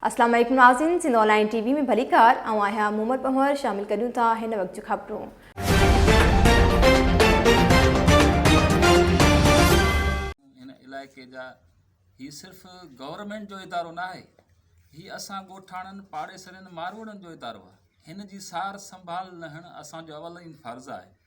السلام عليڪم ناظرين سنڌ آنلائن ٽي وي ۾ ڀليڪار آئون آهيان محمد پنهور شامل ڪريون ٿا هن وقت جون خبرون علائقي جا هي صرف گورنمنٽ جو ادارو نه آهي هي اسان ڳوٺاڻن پاڙيسرين ماروئڙن جو ادارو آهي هن جي سار سنڀال لهڻ اسان جو اولين فرض آهي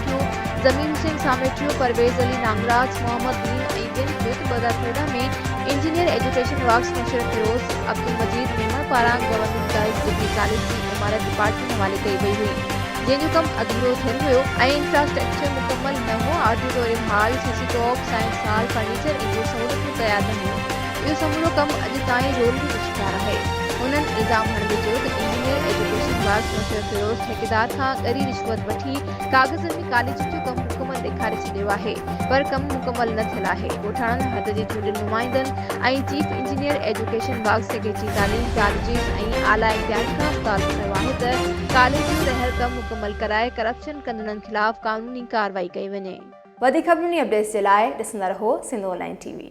ٿيو، ضمير حسين ساميٽيو، پرويز علي نانگراج، محمد دين ۽ ٻين کي ته ٻه هزار تيرهن ۾ engineer education works Musharraf Feroz Abdul Majeed Memon پاران گورنمينٽ گرلز ڊگري ڪاليج جي عمارت ڊپارٽمينٽ حوالي ڪئي وئي هئي جنهن جو ڪم اڌورو ٿيل هيو ۽ انفراسٽرڪچر مڪمل نه هو، آڊيٽوريم هال، سي سي ٽاڪ، سائنس هال، فرنيچر ۽ ٻيون سهولتون تيار نه هيون، اهو سمورو ڪم اڄ تائين رولڙي جو شڪار آهي. هنن الزام هڻندي چيو ته engineer education works Musharraf Feroz ٺيڪيدار کان ڳري رشوت وٺي، ٿي، ڪاغذن ۾ ڪاليجن جو ڪم مڪمل ڏيکاري ڇڏيو آهي، پر ڪم مڪمل نه ٿيل آهي، ڳوٺاڻن حد جي چونڊيل نمائندن ۽ چيف انجنيئر ايجوڪيشن باغ سگهيچي تعليم ڪاليجز ۽ اعليٰ اختيارين کان مطالبو ڪيو آهي ته ڪاليج جو رهيل ڪم مڪمل ڪرائي ڪرپشن ڪندڙن خلاف قانوني ڪارروائي ڪئي وڃي. وڌيڪ خبرون ۽ اپڊيٽس جي لاء ڏسندا رهو Sindh online T V.